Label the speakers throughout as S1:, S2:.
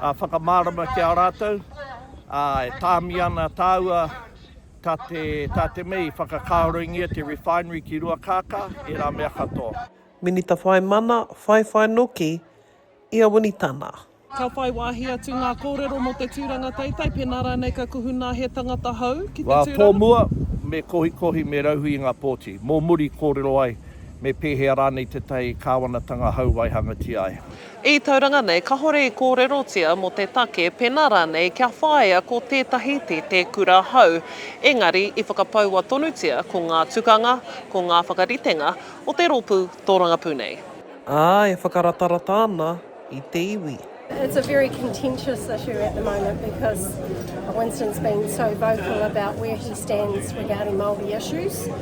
S1: ā, whakamārama ki a rātou, ā, e tāmi ana tāua tā te, tā te mea i whakakāoringia te refinery ki Ruakākā, ērā mea katoa. Minita whai
S2: mana, whai whai noki i a Winnie Tana. Ka whai wāhi atu ngā kōrero mō te tūranga teitei pēnā rānei ka kuhu nā he tangata hou ki te tūranga. Wā tōmua, me
S1: kohikohi, me rauhī i ngā pōti. Mō muri, kōrero ai me pēhea rānei tētahi kāwanatanga hou waihangatia ai. I Tauranga nei
S2: kahore i kōrerotia mō te take pēnā rānei kia whāia ko tētahi te te kura hou, engari i whakapaua tonutia ko ngā tukanga, ko ngā whakaritenga o te rōpū tōrangapū nei. Ā, e whakaratarata ana i te iwi. It's a very
S3: contentious issue at the moment because Winston's been so vocal about where he stands regarding Māori issues.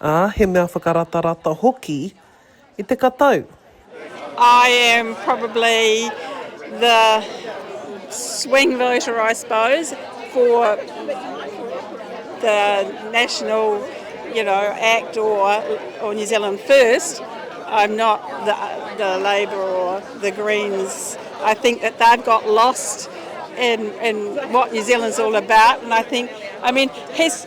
S3: Ā, he mea
S2: whakaratarata hoki i te katau. I
S4: am probably the swing voter I suppose for the national you know act or New Zealand first, I'm not the Labour or the Greens, I think that they've got lost in what New Zealand's all about and I think, I mean, he's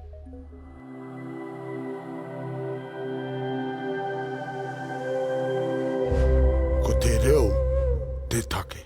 S2: Ko te reo te take.